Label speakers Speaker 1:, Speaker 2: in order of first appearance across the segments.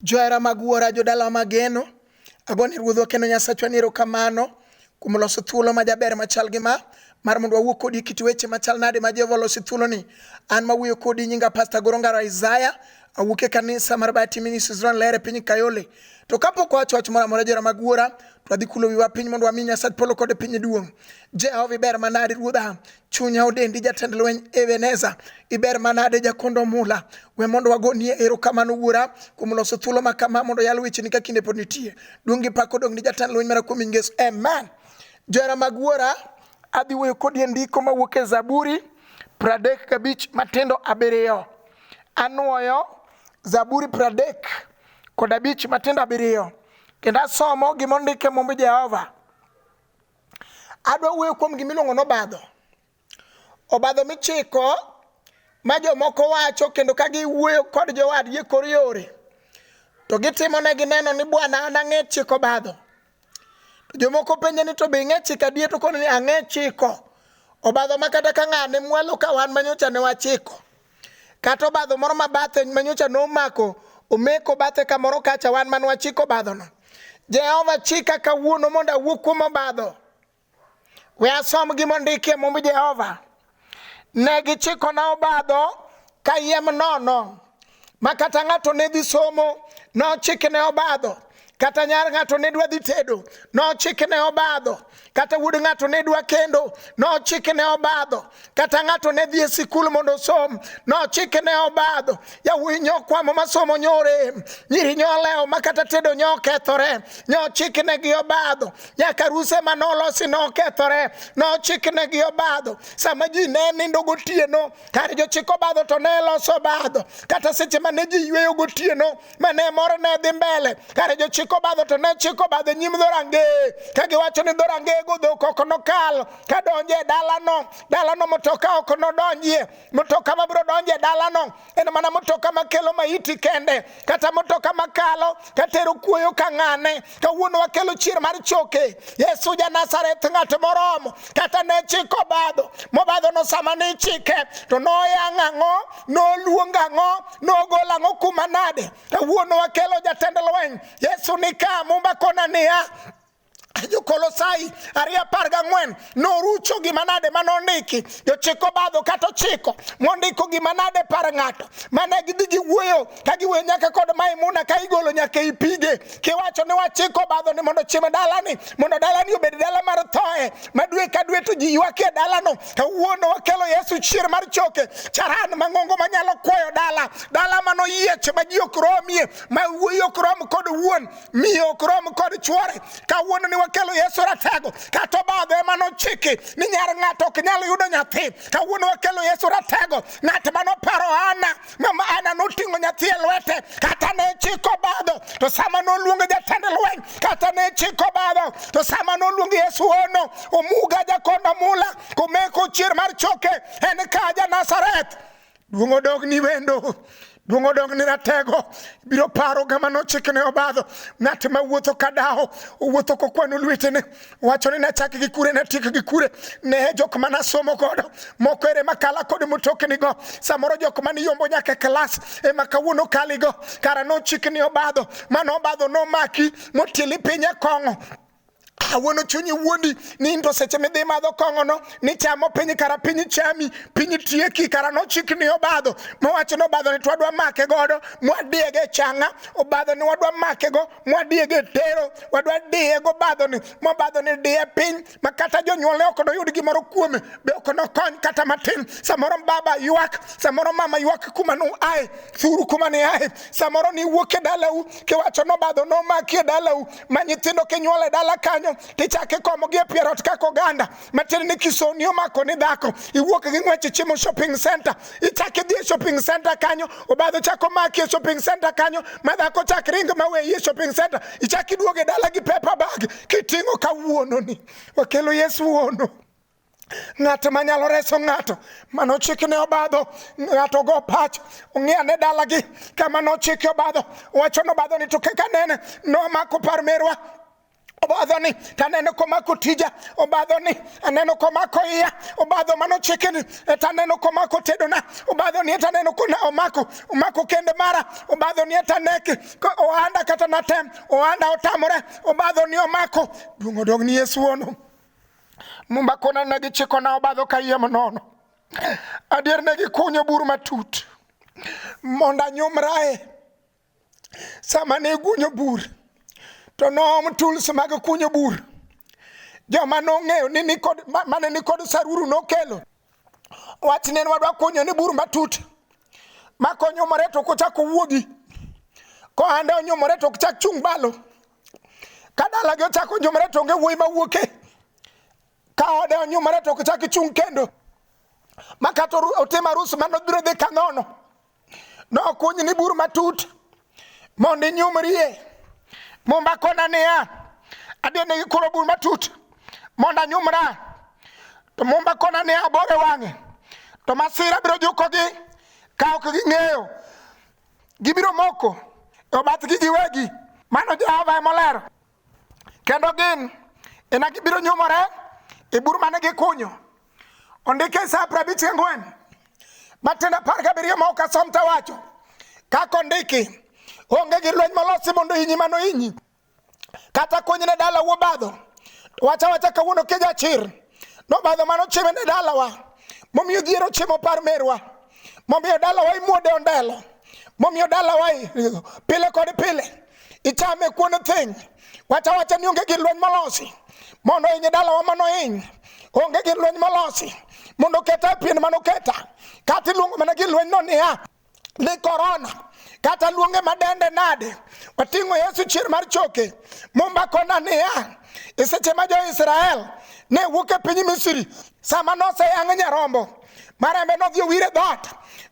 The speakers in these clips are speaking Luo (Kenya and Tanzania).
Speaker 1: Johera mag Wuora, jodalawa mageno, agone Ruodhwa kendo Nyasachwa ni erokamano kuom loso thuolo ma jaber machal gi ma mar mondo wawuo kodi e kit weche machal nade ma Jehova oloso e thuoloni. An mawuoyo kodi nyinga Pasta Goro Ngaro Isaiah, awuok e kanisa mar Bati Ministries Ron Lere piny Kayole. To kapok wawacho wach moro amora johera mag Wuora, to wadhi kulo wiwa piny mondo wami Nyasach polo kod piny duong'. Jehova iber manade Ruodha, Chunya odendi jatend lweny Ebeneza, iber manade jakondo mula. We mondo wagonie erokamano wuora kuom loso thuolo ma kama mondo yal wecheni ka kinde pod nitie. Duong' gi pak odong' ni jatend lweny mara kuom nying Yesu. Amen. Johera mag wuora, adhi wuoyo kodi e ndiko mawuok e Zaburi pradek gabich matindo abiriyo. Anwoyo Zaburi pradek kod abich matindo abiriyo kendo asomo gima ondik e Mumb Jehova. Adwa wuoyo kuom gima iluongo ni obadho. Obadho michiko ma jomoko wacho kendo ka giwuoyo kod jowadgi e kor yore to gitimo ne gineno ni bwana an ang'e chiko obadho. To jomoko penje ni to be ing'e chiko adier to koni ni ang'e chiko. Obadho ma kata ka ng'ane mwalo ka wan manyocha ne wachiko. Kata obadho moro ma bathe manyocha nomako omeko bathe kamoro kacha wan man wachiko obadhono. Jehova chika kawuono mondo awuo kuom obadho. We asom gima ondiki e mumb Jehova. Ne gichikona obadho kayiem nono ma kata ng'ato ne dhi somo nochikne obadho kata nyar ng'ato ne dwa dhi tedo nochik ne obadho kata wuod ng'ato ne dwa kendo nochik ne obadho kata ng'ato ne dhi e sikul mondo osom nochik ne obadho yawuoyi nyokwamo masomo nyore nyiri nyolewo ma kata tedo nyokethore nyochik ne gi obadho nyaka ruse ma nolosi nokethore nochik ne gi obadho sama ji ne nindo gotieno kar jochik obadho to ne loso obadho kata seche ma ne ji yweyo gotieno ma ne mor ne dhi mbele kare jochiko obadho to ne chiko obadho e nyim dhorangeye ka giwacho ni dhorangeyego dhok ok nokal ka donjo e dalano dalano motoka ok nodonjie motoka mabiro donjo e dalano en mana motoka makelo maiti kende kata motoka makalo katero kuoyo ka ng'ane kawuono wakelo chier mar choke yesu ja nazareth ng'at moromo kata ne chiko obadho mobadhono sama ne ichike to noyang' ang'o noluong ang'o nogol ang'o kuma nade kawuono wakelo jatend lweny yesu nika mumba kona niya jokolosai ariyo apar gang'wen norucho gima nade ma nondiki jochik obadho kata ochiko mondiko gima nade par ng'ato mane gidhi giwuoyo ka giwuoyo nyaka kod maimuna ka igolo nyaka i pige kiwacho ni wachiko obadho ni mondo chiem dalani mondo dalani obed dala mar thoe ma dwe ka dwe to ji ywak e dalano kawuono wakelo yesu chier mar choke charan mang'ongo manyalo kwayo dala dala manoyiech ma ji ok romie ma wuoyi ok rom kod wuon miyo ok rom kod chwore kawuono ni wakelo yesu ratego kata obadho ema nochiki ni nyar ng'ato ok nyal yudo nyathi kawuono wakelo yesu ratego ng'at ma noparo ana mama ana noting'o nyathi e lwete kata ne chiko badho to sama noluongo jatend lweny kata ne chiko badho to sama noluongo yesu ono omuga jakonda mula komeko chier mar choke en ka ja nazareth Duong' odog ni wendo duong' odog ni ratego biro paro gama nochikne obadho ng'at ma wuotho ka daho owuotho kokwano lwetene wacho ni nachak gi kure natiek gi kure ne jok ma nasomo godo moko ere makala kod motoknigo samoro jok ma niyombo nyaka klas ema kawuono kaligo kara nochikni obadho mano obadho nomaki motieli piny e kong'o awuono chunyi wuondi nindo seche midhi madho kong'ono nichamo piny kara piny chami piny tieki kara nochik ni obadho mowacho ni obadho ni twadwa make godo mwadiege changa obadho ni wadwa make go mwadiege tero wadwa diye go badho ni mobadho ni diye piny ma kata jonyuolne ok noyud gimoro kuome be ok nokony kata matin samoro baba ywak samoro mama ywak kuma nu ae thuru kuma ni ae samoro ni wuok e dalau kiwacho nobadho nomaki e dalau ma nyithindo kinyuol e dala kanyo tichako ikomogi e pier ot kaka oganda matiende ni kisoni omako ni dhako iwuok gi ng'wech ichimo shopping center ichako idhi e shopping center kanyo obadho chako maki e shopping center kanyo ma dhako chak ring ma weyi e shopping center ichako iduogo e dala gi paper bag kiting'o kawuononi wakelo yesu wuono ng'at ma nyalo reso ng'ato mano chikne obadho ng'ato go pach ong'eya ne dalagi kama nochike obadho wacho nobadho ni to kaka nene nomako par merwa obadho ni to aneno komako tija obadho ni aneno komako iya obadho mano chike ni to aneno komako tedona obadho ni to aneno kona omako omako kende mara obadho ni to aneke ohanda kata natem ohanda otamore obadho ni omako duong' odog ni yesu wono Mumba kona ne gichiko na obadho ka yiem nono. Adier ne gikunyo bur matut mondo anyumrae sama ne gunyo bur to noom tools mag kunyo bur joma nong'eyo ni nikod mane nikod saruru nokelo wach ne wadwa kunyo ni bur matut makonyumore to kochako wuogi kohande onyumore to chak chung' balo ka dalagi ochako onyumore to onge wuoyi mawuoke ka ode onyumore to ochak chung' kendo ma kata otim arus ma nobiro dhi ka nono nokuny ni bur matut mondo inyumrie mumba kona niya adhi ne gikuro bur matut mondo anyumra to mumba kona niya abore wang'e to masira biro jukogi ka ok ging'eyo Gibiro moko e obathgi giwegi. Mano Jehova ema olero. Kendo gin ena gibiro nyumore e bur mane gikunyo. Ondike e Isaya piero abich gang'wen matiende apar gabiriyo ma ok asom to awacho kaka ondiki onge gi lweny molosi mondo inyi mano inyi kata konyne dala wobadho wacha wacha kawuono keja chir nobadho mano chime ne dalawa momiyo dhier ochimo par merwa momiyo dalawa imuode ondelo momiyo dalawa i- pile kod pile ichame kuon thiny wacha wacha ni onge gir lweny molosi mondo iny dalawa mano iny onge gir lweny molosi mondo keta e pien mano keta kata iluongo mana gir lweny no niya ni korona kata luonge madende nade wating'o yesu chier mar choke mumba kona niya e seche ma jo-israel ne wuok e piny misri sama noseyang' nyarombo marembe nodhi owir e dhoot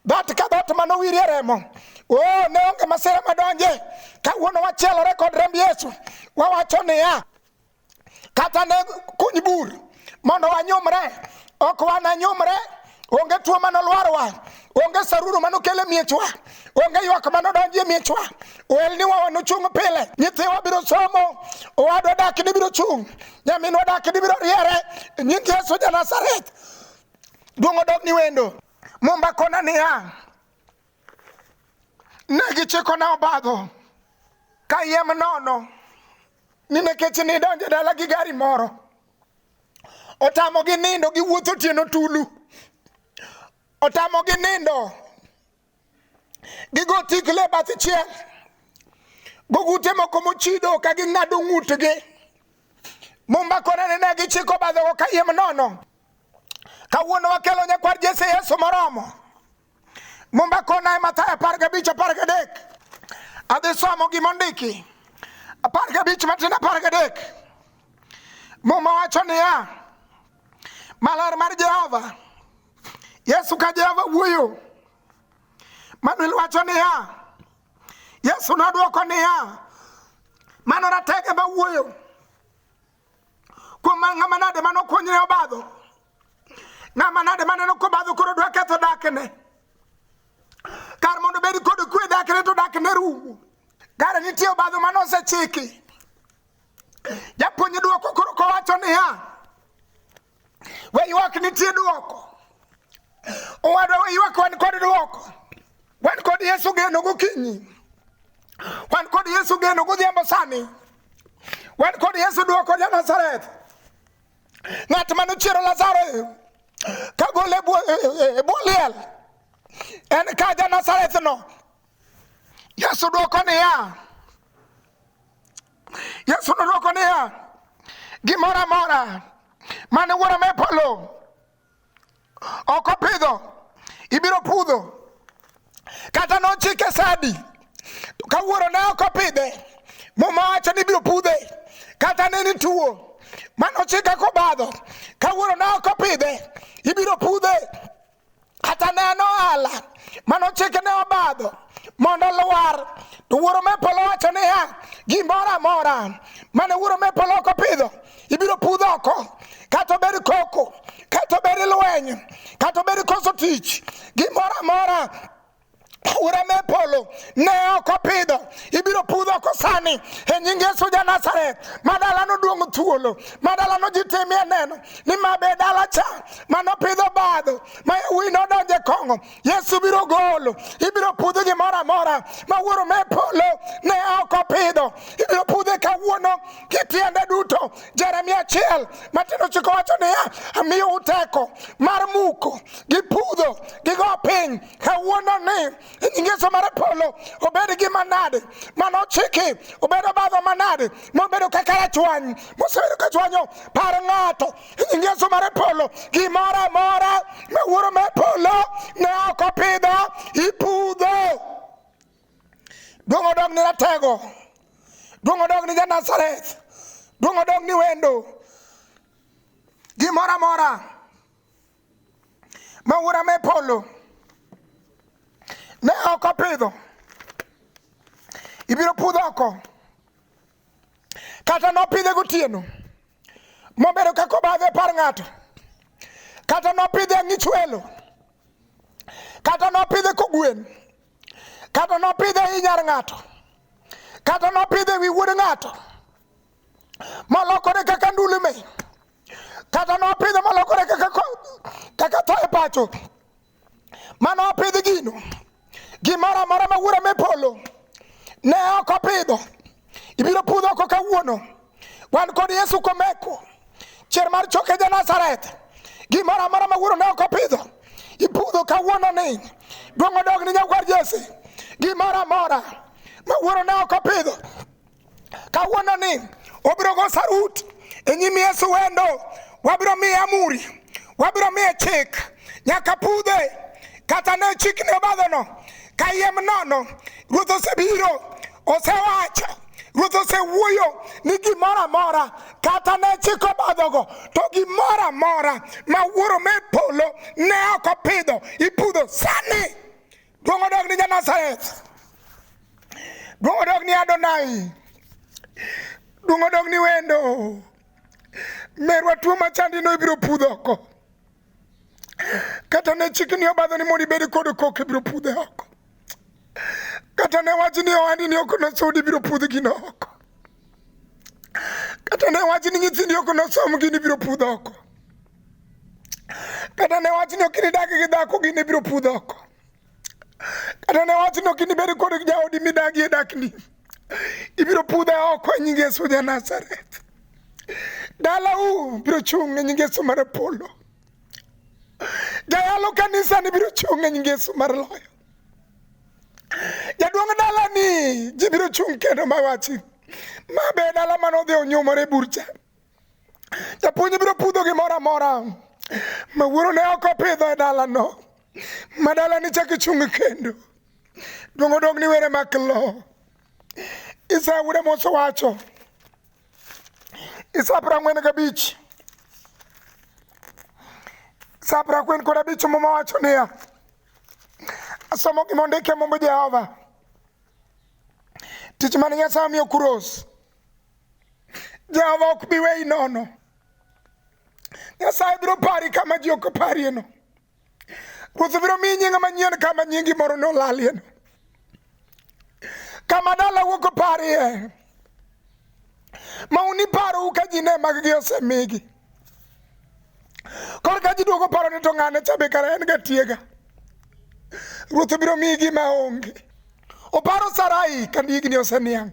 Speaker 1: dhoot ka dhoot ma nowir e remo o ne onge masira madonje kawuono wachielore kod remb yesu wawacho niya kata ne kuny bur mondo wanyumre ok wananyumre onge tuo mane olwarowa onge saruru mane okel e miechwa onge ywak mane odonji e miechwa oelniwa wanochung' pile nyithiwa biro somo owadwa dak ni biro chung' nyaminwa dak ni biro riere nying yesu ja nazareth duong' odog ni wendo mumba kona niya ne gichikona obadho kayiem nono ni nikech nidonjo e dala gi gari moro otamogi nindo giwuotho otieno tulu otamogi nindo gigo tikle bath chiel gogute moko mochido ka ging'ado ng'utgi mumba korene ne gichiko badhogo kayiem nono kawuono wakelo nyakwar jese yesu moromo Mumba kona e Mathayo apar gabich apar gadek. Adhi somo gima ondiki. Apar gabich matin apar gadek. Muma wacho niya, maler mar Jehova. Yesu ka Jehova wuoyo. Manuel wacho niya, Yesu nodwoko niya, mano ratege ma wuoyo. kuom ng'ama nade mane okuonyre obadho ng'ama nade maneno kobadho koro dwa ketho dakne kar mondo bed kod kwe dakne to dakne rumo kare nitie obadho mane osechiki japuonj dwoko koro kowacho niya We ywak nitie dwoko. Owadwa we ywak wan kod dwoko. Wan kod Yesu geno gokinyi. Wan kod Yesu geno godhiambo sani. Wan kod Yesu dwoko ja Nazareth. Ng'at mane ochiero Lazaro ka gole e bwo e, e, e bwo liel. En ka ja Nazareth no. Yesu dwoko niya. Yesu nodwoko niya, gimoro amora mane wuora me polo ok opidho ibiro pudho. Kata nochike sadi ka wuoro ne ok opidhe muma wacho ni ibiro pudhe. Kata ne ni tuo mane ochike kobadho ka wuoro ne ok opidhe ibiro pudhe. kata ne en ohala manochike ne obadho mondo olwar to wuoro me polo wacho niya gimoro amora mane wuoro me polo ok opidho ibiro pudh oko kata obed koko kata obed lweny kata obed koso tich gimoro amora aora me polo ne ok opidho ibiro pudh oko sani e nying yesu ja nazareth ma dalano duong' thuolo ma dalano ji timie neno ni ma be dala cha manopidho badho ma yawuoyi nodonje kong'o yesu biro golo ibiro pudh gimoro amora ma wuoro me polo ne ok opidho ibiro pudhe kawuono kitiende duto jeremia achiel matino chiko wacho niya amiyo uteko mar muko gi pudho gi go piny kawuono ni ingeso mar polo obed gi manade mano chiki obedo badho manade mobedo kaka rachwany mosebedo ka chwanyo par ng'ato ingeso mar polo gimoro amora ma wuoro mar polo ne ok opidho ipudho duong' odog ni ratego duong' odog ni janazareth duong' odog ni wendo gimoro amora ma wuora me polo ne ok opidho ibiro pudh oko kata nopidhe gotieno mobedo kaka obadho e par ng'ato kata nopidhe e ng'ichwelo kata nopidhe kogwen kata nopidhe e i nyar ng'ato kata nopidhe e wi wuod ng'ato molokore kaka ndulume kata nopidhe molokore kaka kodhi kaka tho e pacho mane opidh gino gimoro amora ma wuora me polo ne ok opidho ibiro pudho oko kawuono wan kod yesu komeko chier mar choke ja nazareth gimoro amora ma wuoro ne ok opidho ipudho kawuono ni duong' odog ni nyakwar jese gimoro amora ma wuoro ne ok opidho kawuono ni obiro go sarut e nyim Yesu wendo, wabiro miye amuri, wabiro miye chik nyaka pudhe kata ne chikne obadhono kayiem nono. Ruoth osebiro, osewacho Ruoth osewuoyo ni gimoro amora kata ne chik obadhogo to gimoro amora ma wuoro me polo ne ok opidho ipudho sani. Duong' odog ni Janazareth. Duong' odog ni Adonai. Duong' odog ni wendo. Merwa tuo machandino ibiro pudho oko. Kata ne chikni obadho ni mondo ibed kod kok ibiro pudhe oko. Kata ne wach ni ohandi ni ok nosudi ibiro pudh gino oko. Kata ne wach ni nyithindi ok nosom gini ibiro pudh oko. Kata ne wach ni ok inidag gi dhako gini biro pudho oko. Kata ne wach ni ok inibed kod jaodi midagie dakni. Ibiro pudhe oko e nying Yesu ja Nazareth. Dalau biro chung' e nying Yesu mar polo. Jayalo kanisa ni biro chung' e nying Yesu mar loyo. Jaduong' dala ni ji biro chung' kendo mawachi. Ma be dala mane odhi onyumore burcha. Japuonj biro pudho gimoro amora ma wuoro ne ok opidho e dalano ma dalani chak ichung' kendo dong' odong' ni were mak lo Isaya wuode Musa wacho Isaya piero ang'wen gabich Isaya piero ang'wen kod abich muma wacho niya asomo gima ondike mumb Jehova tich mane Nyasaye omiyo Kuros Jehova ok bi weyi nono. Nyasaye biro pari kama ji ok oparieno. Ruoth biro miyi nying manyien kama nyingi moro ne olalieno. Kama dala wuok oparie ma uniparou ka ji ne maggi osemigi. Korka ji duogo paro ni to ng'ane cha be kara en ga tiega. Ruoth biro miyi gima onge. Oparo Sarai ka higni oseniang'.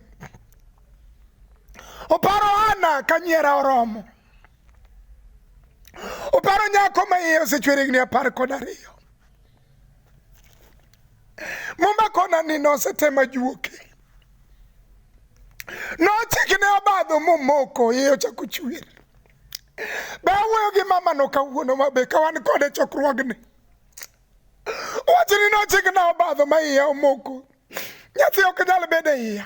Speaker 1: Oparo Hana ka nyiera oromo. Oparo nyako ma iye osechwer higni apar kod ariyo. Muma kona ni nosetema juoke. Nochikne obadho momoko iye ochako chwer. Be awuoyo gi mamano kawuono ma be ka wan kode chokruogni? Wachni nochikna obadho ma iya omoko. Nyathi ok nyal bedo e iya.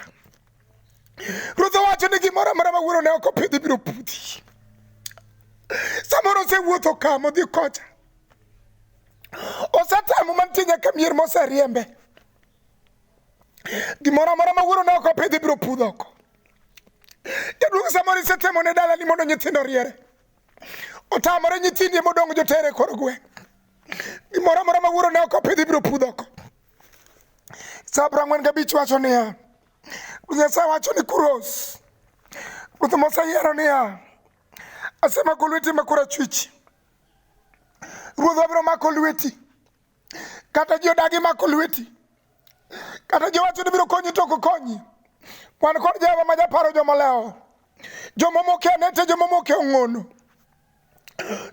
Speaker 1: Ruoth owacho ni gimoro amora ma wuoro ne ok opidhi biro pudhi. Samoro osewuotho ka modhi kocha. Osetemo mantie nyaka mier moseriembe. Gimoro amora ma wuoro ne ok opidhi biro pudho oko. Jaduong' samoro isetemo ne dala ni mondo nyithindo riere. Otamore nyithindi modong' jotere kor gweng'. Gimoro amora ma wuoro ne ok opidhi ibiro pudho oko. Sa piero ang'wen gabich wacho niya, Ruoth Nyasaye wacho ni Kuros, Ruoth moseyiero niya, asemako lweti ma korachwich. Ruoth wabiro mako lweti. kata ji odagi mako lweti kata ji wacho ni biro konyi to ok konyi wan kod jehova ma japaro jomolewo jomomoke anete jomomoke ong'ono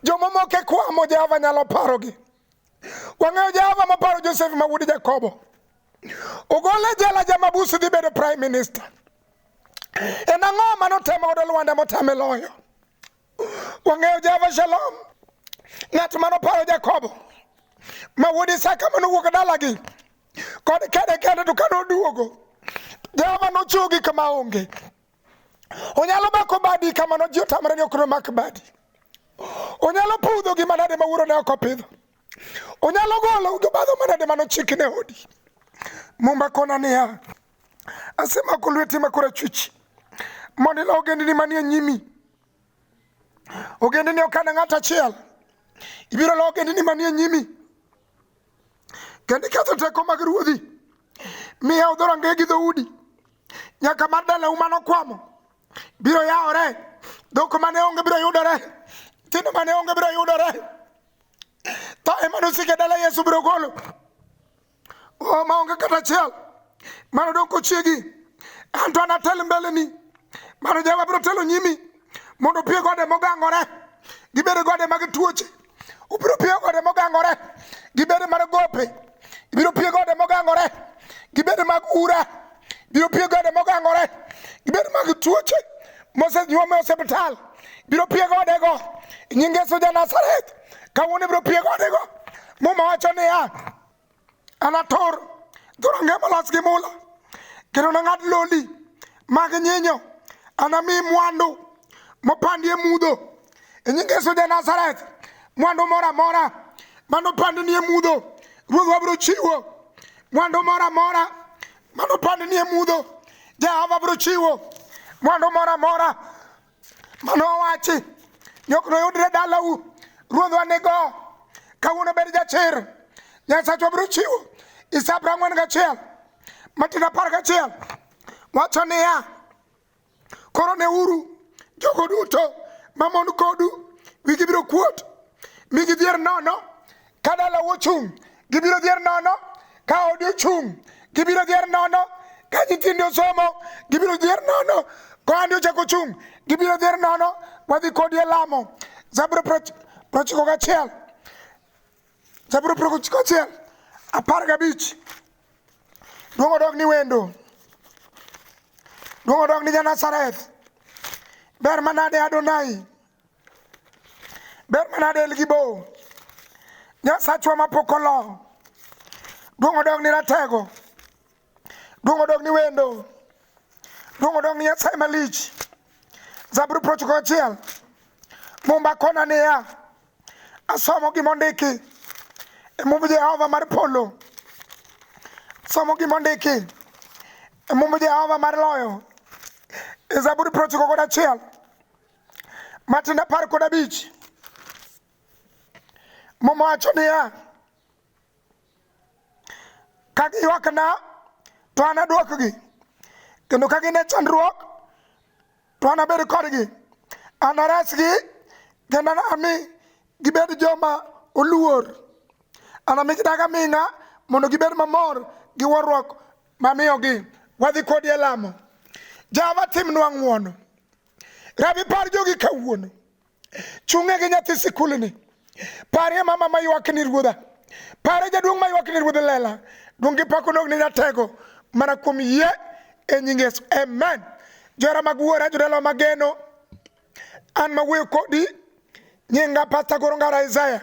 Speaker 1: jomomoke kwamo jehova nyalo parogi wang'eyo jehova maparo josef ma wuod jakobo ogole jela jamabusi dhi bedo prime minister en ang'o ma notemo godo lwanda motame loyo Wang'eyo Java Shalom, ng'at mano paro Jakobo ma wuod Isaka mane owuok dalagi kod kede kende to kane oduogo Jehova nochuogi kama onge. Onyalo mako badi kamano ji otamre ni ok nomak badi. Onyalo pudho gi manade ma wuoro ne ok opidho. Onyalo golo jobadho manade mano chik ne odi. Mumba kona niya, asemako lweti ma korachwich mondo ilo ogendni manie nyimi ogendni ok ana ng'at achiel ibiro lo ogendni manie nyimi kendo iketho teko mag ruodhi miya udho rangeye gi dhoudi nyaka mar dalau mane okwamo biro yawore dhok mane onge biro yudore nyithindo mane onge biro yudore tho ema nosike dala yesu biro golo oh, maonge kata achiel mano dong' kochiegi an to anatel mbeleni mano jehova biro telo nyimi mondo pie gode mogangore gibede gode mag tuoche ubiro pie gode mogangore gibede mar gope ibiro pie gode mogangore gibede mag ura biro pie gode mogangore gibede mag tuoche mosenyuom e osiptal biro pie godego nyinge suja nazareth kawuono ibiro pie godego muma wacho niya Anator dhorangeye molos gi mula, kendo nang'ad lodi mag nyinyo. Anami mwandu mopandi e mudho, e nying Yesu ja Nazareth, mwandu moro amora mane opandni e mudho, Ruoth wabiro chiwo. Mwandu moro amora mane opandni e mudho, Jehova biro chiwo. Mwandu moro amora Mano owachi, jok noyudre dalau, ruodhwa nigo, kawuono bed jachir, Nyasachwa biro chiwo Isaya piero ang'wen gachiel, Matino apar gachiel, wacho niya, koro neuru jogo duto mamon kodu wigi biro kuot, mi gidhier nono Ka dalau ochung', gibiro dhier nono. Ka odi ochung', gibiro dhier nono. Ka nyithindi osomo, gibiro dhier nono. Ka ohandi ochako ochung', gibiro dhier nono. Wadhi kodi e lamo. Zaburi prochiko gachiel. Zaburi prochiko gachiel. Apar gabich. Duong' odog ni wendo. Duong' odog ni ja Nazareth. Ber manade Adonai. ber mana del gi bo nyasachwa mapok olo duong' odog ni ratego duong' odog ni wendo duong' odog ni nyasaye malich zaburi prochiko achiel mumba kona niya asomo gima ondiki e mumb jehova mar polo somo gima ondiki e mumb jehova mar loyo e zaburi prochiko kod achiel Matendo apar kod abich Muma wacho niya, ka giywakna to anadwokgi, kendo ka gin e chandruok to anabed kodgi, anaresgi kendo anami gibed joma oluor, anami gidag aming'a mondo gibed mamor gi warruok mamiyogi. Wadhi kodi e lamo. Jehova timnwa ng'wono. Rabi par jogi kawuono. Chung'e gi nyathi sikulni. Parie mama ma ywak ni ruodha. Pare jaduong' ma ywak ni ruodha lela. Duong' gi pako nog ni ratego mana kuom yie e nying Yesu. Amen. Johera mag wuora jodala mageno. An ma wuoyo kodi nyinga Pastor Goronga Isaiah.